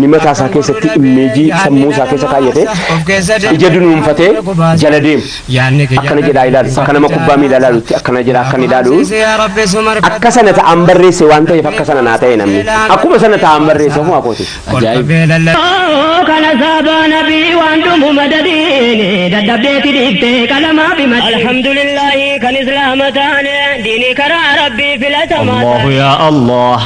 Inni mataa isaa keessatti immeejii sammuu isaa keessa kaayyate, ija dunuunfatee jala deemu. Akkana jedhaa ilaalu. Akka nama kubbaa miilaa ilaalutti akkana jedhaa akkan ilaalu. Akka sana ta'aan barreesse waan ta'eef akka sana naa ta'e namni. Akkuma sana ta'aan barreesse ofuma kooti. kana saabaa nabii waan dhumu madadiin dadhabdeeti dhiifte qalamaa fi matii. Alhamdulillahi kan islaama taane diini karaa rabbii filatamaa. الله يا الله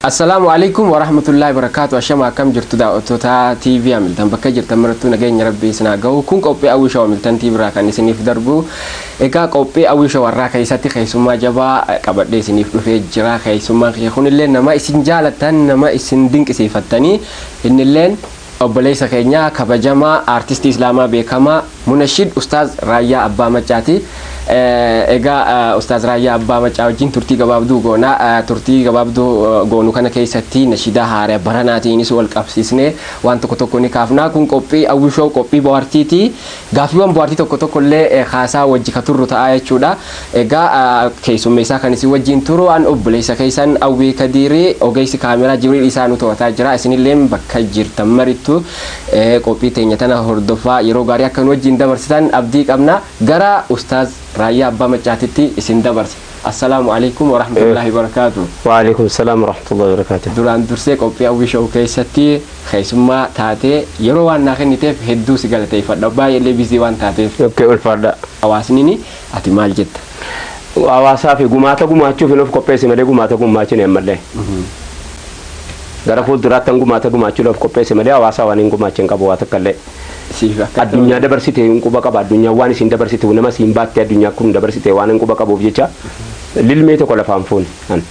Assalaamu Aleykum Warahmatullahi Wabarakaatu Ashama akkam jirtu daaw'attoota TV Hamiltan bakka jirtan marattuu nageenya rabbii isin haa gahu kun qophii Awwii Show Hamiltan TV irraa kan isiniif darbu egaa qophii Awwii Show warraa keessatti keessummaa jabaa qabadhee isiniif dhufee jira keessummaan kiyya kunillee nama isin jaalattan nama isin dinqisiifattanii innilleen Obboleessa keenya kabajamaa Aartistii Islaamaa beekamaa Munashid Ustaaz Raayyaa Abbaa Maccaati. Egaa Ustaaz Raayyaa Abbaa Maccaa wajjin turtii gabaabduu goona. Turtii gabaabduu goonu kana keessatti nashidaa haara baranaatiinis wal qabsiisnee waan tokko tokko ni kaafna. Kun qophii Awwishow qophii bohaartiiti. Gaaffiiwwan bohaartii tokko tokko illee kaasaa wajji ka turru ta'a jechuu dha. Egaa keessummeessaa kan isin wajjiin turu an obboleessa keessan Awwee Kadiiri. Ogeessi kaameeraa Jibriil Isaa nu to'ataa jira. Isin illeen bakka jirtan marittu qophii teenya tana hordofaa yeroo gaarii akka nu wajjiin dabarsitan abdii qabna. Gara Ustaaz Raayyaa Abbaa Maccaatitti isin dabarsa. Assalaamu alaikum warahmatullahi wabarakaatu. Waalaikum salaam warahmatullahi wabarakaatu. Duraan dursee qophii Hawwii Show keessatti keessummaa taatee yeroo waan naa kenniteef hedduu si galateeffadha. Baay'ee illee bizii waan taateef. Okay, ulfaadha. Hawaasnini ati maal jetta? Hawaasaa fi gumaata gumaachuuf hin of qopheessi malee gumaata gumaachuu hin mallee. Gara fuulduraatti an gumaata gumaachuu of qopheessi malee hawaasaa waan hin gumaacha hin qabu waa takka illee. siif akka addunyaa dabarsite hin quba qaba addunyaa waan isin dabarsitu nama siin baatte addunyaa kun dabarsite waan hin quba qabuuf jecha lilmee tokko lafaan fuune an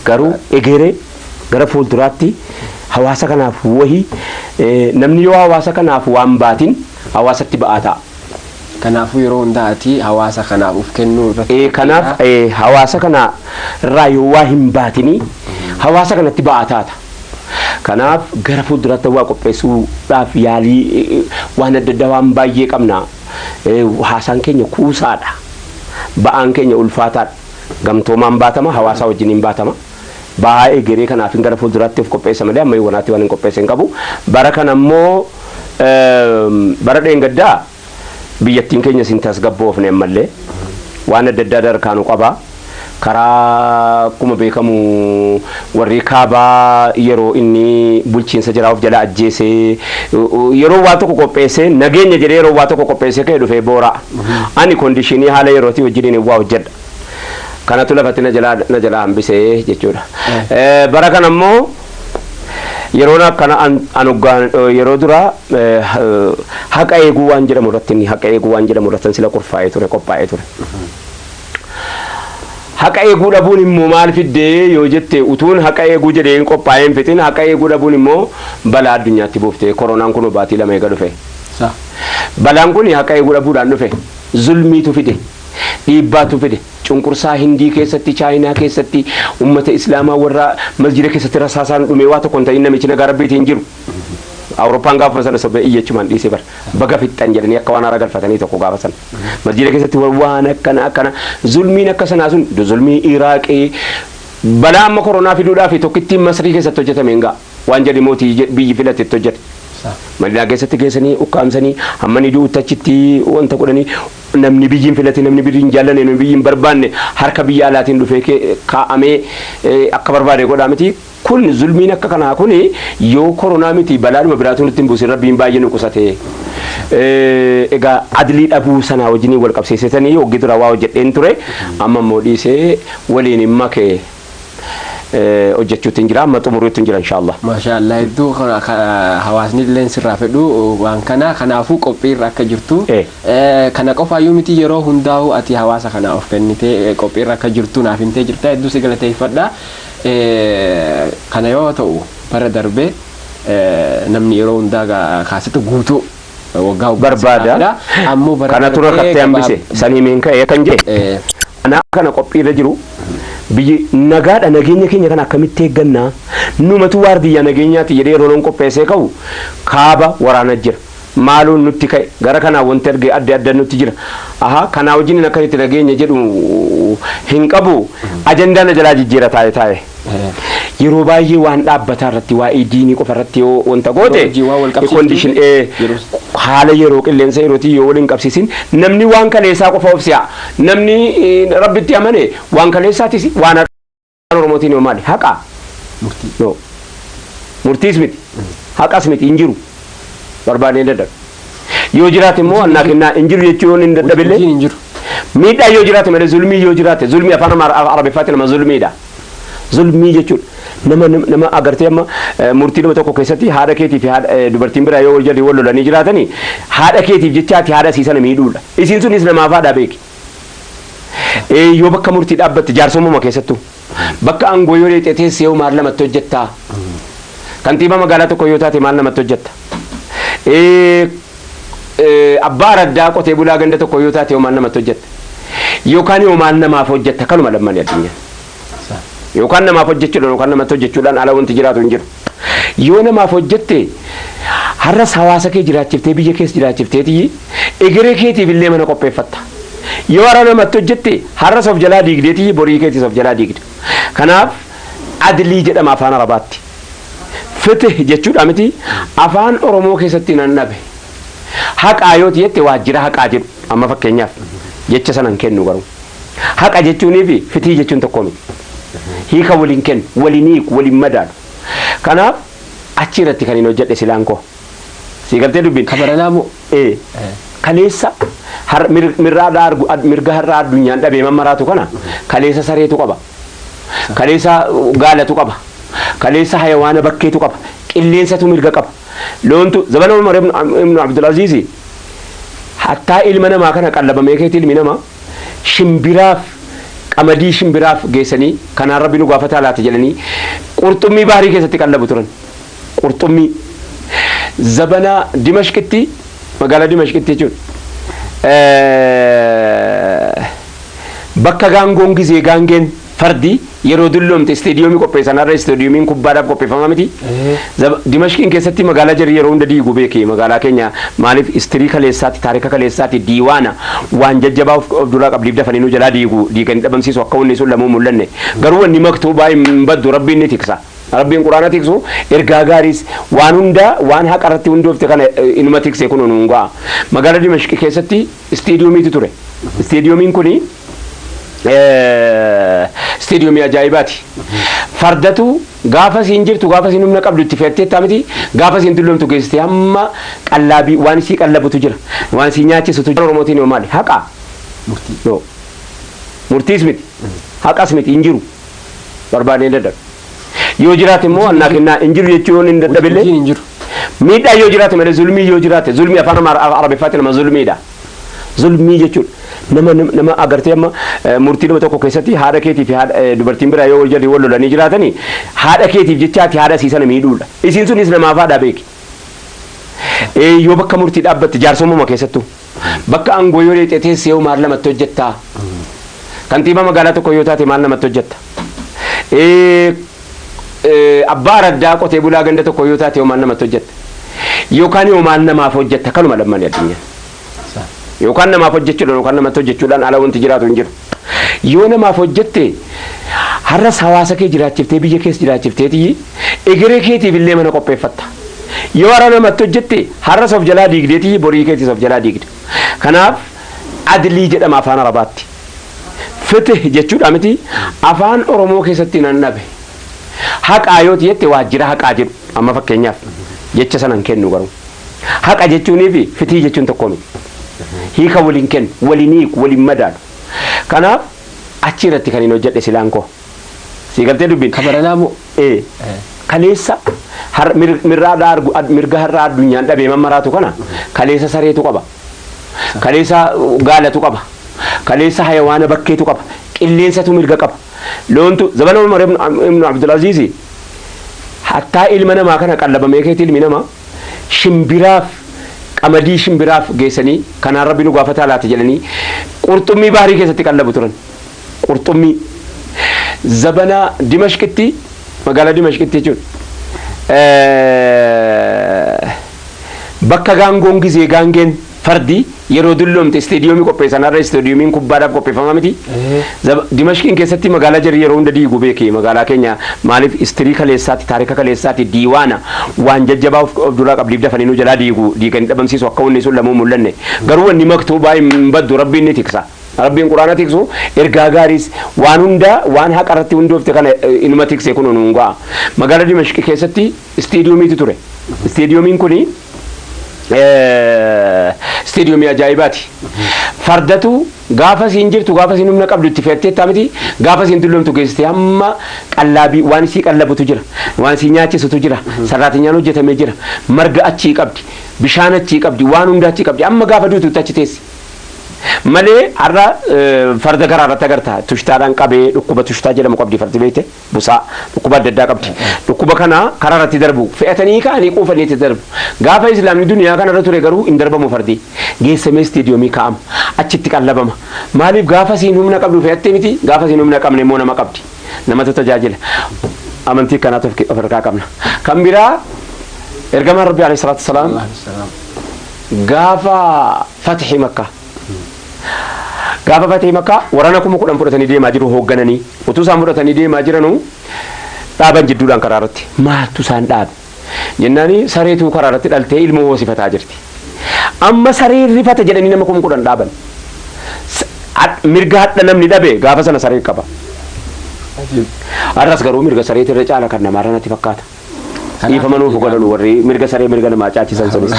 garuu egeree gara fuulduraatti hawaasa kanaaf wahii eh, namni yoo hawaasa kanaaf waan baatin hawaasatti ba'aa ta'a. Kanaafuu yeroo hundaa ati hawaasa kanaaf of kennuu irratti Eh, kanaaf qophiidha. eh, hawaasa kana irraa yoo waa hin baatinii hawaasa kanatti ba'aa taata. Kanaaf gara fuulduraatti hawwaa qopheessuudhaaf yaalii waan adda addaa waan baay'ee qabna. Haasaan keenya kuusaadha. Ba'aan keenya ulfaataadha. Gamtoomaan baatama, hawaasaa wajjiniin baatama. Ba'aa egeree kanaafin gara fuulduraatti of qopheessa malee amma yoonatti waan hin qopheesse hin qabu. Bara kana immoo bara dheengaddaa biyyattiin keenyas hin tasgabboofne ammallee. Waan adda addaa darkaa nu qaba. Karaa akkuma beekamu warri kaabaa yeroo inni bulchiinsa jaraa of jala ajjeesee yeroo waa tokko qopheessee nageenya jedhee yeroo waa tokko qopheessee ka'e dhufee boora'a. Ani kondishinii haala yerootii wajjiniin hin waa hojjedha. Kanatu lafatti na jalaa na jalaa hambisee jechuudha. Bara kana immoo Yeroon akkana an an hoggaan yeroo duraa haqa eeguu waan jedhamu irratti inni haqa eeguu waan jedhamu irratti sila kurfaa'ee ture qophaa'ee ture. Haqa eeguu dhabuun immoo maal fiddee yoo jette utuun haqa eeguu jedhee hin qophaa'ee hin fixin haqa eeguu dhabuun immoo balaa addunyaatti buufte koronaan kun baatii lama eega dhufe. Balaan kun haqa eeguu dhabuudhaan dhufe zulmiitu fide dhiibbaatu fide. Cunqursaa Hindii keessatti, Chaayinaa keessatti, ummata Islaamaa warra masjida keessatti rasaasaan dhume waa tokko hin ta'in namichi nagaa Rabbiitii hin jiru. Awurooppaan gaafuma sana sobee iyyachumaan dhiise bar. Baga fixxan jedhanii akka waan haara galfatanii tokko gaafa sana. Masjida keessatti wa- waan akkana akkana zulmiin akka sanaa sun du- zulmii Iraaqii balaa amma koronaa fiduudhaaf tokkittiin Masrii keessatti hojjetame hin ga'a. Waan jedhi mootii je- biyyi filate itti hojjete. Madinaa keessatti geessanii ukkaamsanii hamma ni du'utti achitti wanta godhanii Namni biyyi hin filatin, namni birri hin jaallanne, namni biyyi hin barbaanne harka biyya alaatiin dhufee ke, kaa'amee akka barbaade godhaa miti. Kun zulmiin akka kanaa kun yoo koronaa miti balaadhuma biraatuu nutti hin buusin Rabbiin baay'ee nu qusate. Egaa adlii dhabuu sanaa wajjiniin wal qabsiiseetanii hoggi dura waa hojjedheen ture amma immoo dhiisee waliin hin make. eh, hojjechuutiin jira amma xumuruutiin jira inshaallah Maashaa Allah hedduu ka- ka- hawaasni illee sirraa fedhu waan kana kanaafuu qophiirra akka jirtu Eh. Eh, kana qofaayyuu miti yeroo hundaa'u ati hawaasa kana of kennitee eh, qophiirra akka jirtu naaf himtee jirta hedduu si galateeffadha Eh, kana yoo ta'u bara darbe eh, namni yeroo hundaa ga- kaasetta guutuu waggaa waggaan si barbaada. gaafadha. Ammoo bara Kana kana tura ta'ee kattee hambise. gabaab- San himiin ka'ee kan jee. Eh, Anaa kana qophii irra jiru biyyi nagaadha nageenya keenya kana akkamitti eeggannaa numatu waardiyyaa nageenyaati jedhee yeroo loon qopheessee ka'u kaaba waraana jira. Maaloo nutti ka'e gara kanaa wanti arge adda adda nutti jira. Ahaa kanaa wajjin akkasitti nageenya jedhu hin qabu ajandaan ajalaa jijjiira taa'e taa'e. yeroo baay'ee waan dhaabbataa irratti waa'ee diinii qofa irratti yoo wanta goote Yeroo wajjin waan wal qabsiiftu, condition, eh, yeroo- haala yeroo qilleensa yerootii yoo waliin qabsiisin namni waan kaleessaa qofa of si'a namni eh, rabbitti amane waan kaleessaatis waan haqaa Afaan oromootiin yoo maali haqaa murtii no murtiis miti haqas miti hin jiru barbaadnee dadhabe. Yoo jiraate immoo annaa kennaa hin jiru jechuu yoon hin dadhabe illee Hojiin hin jiru. miidhaa yoo jiraate malee zulmii yoo jiraate zulmii afaan Amaar- arabiffaatiin nama zulmiidha. Zulmii jechuun nama nama- nama agartee amma eh, murtii nama tokko keessatti haadha keetii fi haadha- eh, dubartiin biraa yoo wal jalli wal lolanii jiraatanii haadha keetiif jechaati haadha isii sana miidhuudha. Isiin sunis namaaf haadha beeki. Eh, Yoo bakka murtii dhaabbatte jaarsommuma keessattuu. Bakka aangoo yoo dheexee teesse hoo maal namatti hojjetta? Kantiibaa magaalaa tokko yoo taate maal namatti hojjetta? Abbaa araddaa qotee bulaa ganda tokko yoo taate hoo maal namatti hojjetta? Yookaan hoo maal namaaf hojjetta? Kanuma lammanii addunyaa. Yookaan namaaf hojjechuudhaan yookaan namatti hojjechuudhaan ala wanti jiraatu hin jiru. Yoo namaaf hojjette har'as hawaasa kee jiraachiftee biyya kees jiraachifteeti egeree keetiif illee mana qopheeffatta. Yoo har'a namatti hojjette har'as of jalaa diigdeeti borii keetis of jalaa diigda. Kanaaf adlii jedhama afaan arabaatti. Fitih jechuudhaa miti afaan oromoo keessatti nan dhabe. Haqaa yooti jette waajjira haqaa jedhu amma fakkeenyaaf jecha sana hin kennu garuu. Haqa jechuunii fi fitihi jechuun tokko miti. Hiika waliin kennu, waliin hiiku, waliin madaalu. Kanaaf achi irratti kan hin hojjedhe silaan koo. Sii galtee dubbiin? Ka baranaa moo? Ee. Kaleessa har- mir- mirraa dhaa argu- ad- mirga har'aa addunyaan dhabee mammaraatu kana kaleessa sareetu qaba. Kaleessa uh, gaalatu qaba. Kaleessa hayawaana bakkeetu qaba. Qilleensatu mirga qaba. Loontu zabana Umar ibnu Ibnu Abdulaziizi hattaa ilma namaa kana qallabamee keetti ilmi namaa shimbiraaf qamadii shimbiraaf geessanii kanaan rabbi nu gaafataa laata jedhanii qurxummii bahrii keessatti qallabu turan qurxummii zabana dimashqitti magaalaa dimashqitti jechuun bakka gaangoon gizee gaangeen Fardi yeroo dulloomte isteediyoomii qopheessan har'a isteediyoomiin kubbaadhaaf qopheeffamaa miti. Zaba- Dimashqiin keessatti magaalaa jarri yeroo hunda diigu beeki magaalaa keenya maaliif istirii kaleessaatti taarika kaleessaatti diiwaana waan jajjabaa of of duraa qabdiif dafanii nu jalaa diigu diiganii dhabamsiisu akka wanni sun lamuu hin mul'anne garuu wanni maktuubaa hin baddu rabbiin ni tiksa. Rabbiin quraana tiksu ergaa gaariis waan hundaa waan haqa irratti hundoofte kana eh, inuma tikse kun nu ga'a. Magaalaa Dimashqi keessatti isteediyomiitu ture. Isteediyomiin kun isteediyomii ajaa'ibaati. Fardatu gaafa isiin jirtu gaafa isiin humna qabdu itti fe'atteettaa miti gaafa isiin dulloomtu geessitee hamma qallaabii waan isii qallabutu jira waan isii nyaachisutu jira. Oromootiin yoo maali haqa murtii murtiis miti haqas miti hin jiru barbaadnee dadhabne. Yoo jiraate immoo Hin jiru annaa jechuun- kennaa hin jiru jechuu yoo inni dadhabe illee Hojiin hin jiru. miidhaa yoo jiraate malee zulmii yoo jiraate zulmii afaan Amaar- arabiffaatiin nama zulmiidha. Zulmii jechuun nama nama agartee amma eh, murtii nama tokko keessatti haadha keetii fi haadha- eh, dubartiin biraa yoo wal jalli wal lolanii jiraatanii haadha keetiif jechaati haadha isii sana miidhuudha. Isiin sunis namaaf haadha beeki. Ee yoo bakka murtii dhaabbatte jaarsoomuma keessattuu bakka aangoo yoo dheexee teessee hoo maal namatti hojjettaa? Kantiibaa magaalaa tokko yoo taate maal namatti hojjetta? Ee, ee, Abbaa araddaa qotee bulaa ganda tokko yoo taate hoo maal namatti hojjetta? Yookaan hoo maal namaaf hojjetta? Kanuma lammani addunyaa. Yookaan namaaf hojjechuudhaan yookaan namatti hojjechuudhaan ala wanti jiraatu hin jiru. Yoo namaaf hojjette har'as hawaasa kee jiraachiftee biyya kees jiraachifteeti egeree keetiif illee mana qopheeffatta. Yoo har'a namatti hojjette har'as of jalaa diigdeeti borii keetis of jalaa diigda. Kanaaf adilii jedhama afaan arabaatti. Fitih jechuudha miti afaan Oromoo keessatti nan dhabe. Haqaa yoo jette waajjira haqaa jedhu amma fakkeenyaaf jecha sana hin kennu garuu. Haqa jechuunii fi fitihi jechuun tokko miti. Hiika waliin kennu, waliin hiiku, waliin madaalu. Kanaaf achi irratti kan hin hojjedhe silaan koo. Sii galtee dubbiin. Ka baranaa moo? Ee. Kaleessa har- mir- mirraa dhaa argu- ad- mirga har'aa addunyaan dhabee mammaraatu kana kaleessa sareetu qaba. Kaleessa uh, gaalatu qaba. Kaleessa hayawaana bakkeetu qaba. Qilleensatu mirga qaba. Loontu zabana Umar ibn Abdul Aziizi hattaa ilma namaa kana qallabamee keetti ilmi namaa shimbiraaf qamadii shimbiraaf geessanii kanaan rabbi nu gaafataa laata jedhanii qurxummii bahrii keessatti qallabu turan qurxummii zabana dimashqitti magaalaa dimashqitti jechuun bakka gaangoon gizee gaangeen Fardi yeroo dulloomte isteediyoomii qopheessan har'a isteediyoomiin kubbaadhaaf qopheeffamaa miti. Zaba- Dimashqiin keessatti magaalaa jarri yeroo hunda diigu beeki magaalaa keenya maaliif istirii kaleessaatti taarika kaleessaatti diiwaana waan jajjabaa of of duraa qabdiif dafanii nu jalaa diigu diiganii dhabamsiisu akka wanni sun lamuu hin mul'anne garuu wanni maktuubaa hin baddu rabbiin ni tiksa. Rabbiin quraana tiksu ergaa gaariis waan hunda waan haqa irratti hundoofte kana eh, inuma tikse kun nuun ga'a. Magaalaa Dimashqi keessatti Isteediyoomiitu ture. Isteediyoomiin kun isteediyoomii ajaa'ibaati. Fardatu gaafa isiin jirtu gaafa isiin humna qabdu itti fe'atteettaa miti gaafa isiin dulloomtu geessitee hamma qallaabii waan isii qallabutu jira waan isii nyaachisutu jira sarraatinyaan hojjetamee jira marga achii qabdi bishaan achii qabdi waan hunda achii qabdi amma gaafa duututti achi teessi. Malee har'a farda garaa irratti agarta tushtaadhaan qabee dhukkuba tushtaa jedhamu qabdi fardi beekte. busaa. Dhukkuba adda addaa qabdi. Dhukkuba kana karaa irratti darbu. Fe'atanii ka'anii quufanii itti darbu. Gaafa Islaamni duniyaa kana irra ture garuu hin darbamu fardi. Geessamee isteediyoomii kaa'ama. Achitti qallabama. Maaliif gaafa isiin humna qabdu fe'atte miti, gaafa isiin humna qabne immoo nama qabdi. Namatu tajaajila. Amantii akkanaatu of of harkaa qabna. Kan biraa Ergamaan Rabbii Aleeyhi Salaatu Wasalaam gaafa Fatihii Makkaa Gaafa Fatih Makkaa waraana kuma kudhan fudhatanii deemaa jiru hooggananii. Utuu isaan fudhatanii deemaa jiranuu dhaaban jidduudhaan karaa irratti. Maaltu isaan dhaabe? Jennaani sareetu karaa irratti dhaltee ilmoo hoosifataa jirti. Amma sareen rifate jedhanii nama kuma kudhan dhaaban. Mirga hadha namni dhabe gaafa sana sareen qaba. Har'as garuu mirga sareetirra caala kan namaarra natti fakkaata. Dhiifama nuuf godhanu warri mirga saree mirga namaa caachisan sunis.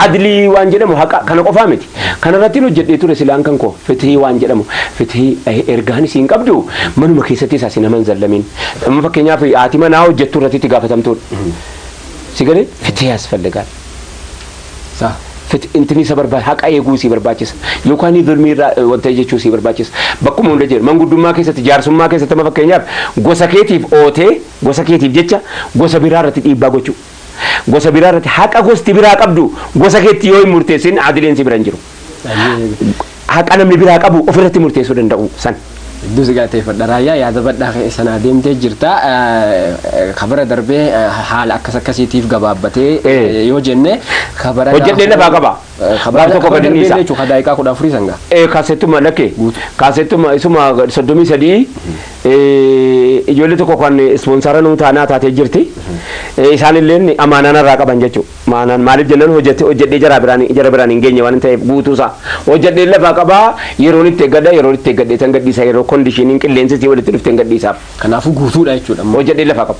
Adlii waan jedhamu haqa kana qofaa miti. Kanarrattin hojjedhee ture silaan kan koo fitihii waan jedhamu fitihii ergaan isiin qabdu manuma keessattis asi nama hin zallamiin. Amma fakkeenyaaf haati manaa hojjettu irratti itti gaafatamtuudha. Si galee fitihii yasfalligaal. Sah. Fit intini isa barbaachisa haqa eeguu isii barbaachisa yookaan zulmii irraa eh, wanta jechuu isii barbaachisa. Bakkuma hunda jira manguddummaa keessatti jaarsummaa keessatti amma fakkeenyaaf gosa keetiif ootee Gosa keetiif jecha gosa biraa irratti dhiibbaa gochuu. Gosa biraa irratti haqa gosti biraa qabdu gosa keetti yoo hin murteessin adiliin si bira hin jiru. Haqa namni biraa qabu of irratti murteessuu danda'uu san. Hedduu si galateeffadha raayyaa yaada badhaa kee sanaa deemtee jirta. Kabara darbee haala akkas akkasiitiif gabaabbatee Eh. yoo jenne kabara Hojjedhee lafaa qabaa? Gaaf tokko gadi dhiisa. Jechuun ka daa'iqaa kudha afurii san gaa. Eh, kaasettuma lakke Guutu. kaasettuma isuma soddomii sadii eh, ijoollee tokko kan ispoonsara nuu taanaa taatee jirti Eh, isaanilleen amaanaan irraa qaban jechuu maanaan maaliif jennaan hojjete hojjedhee jara biraan jara biraan hin geenye waan ta'eef guutuusaa hojjedhee lafaa qabaa yeroon itti eeggadha yeroon itti eeggadhee tan gadhiisa yeroo kondishiiniin qilleensi sii walitti dhufteen gadhiisaaf Kanaafuu guutuudha jechuudha. hojjedhee lafaa qaba.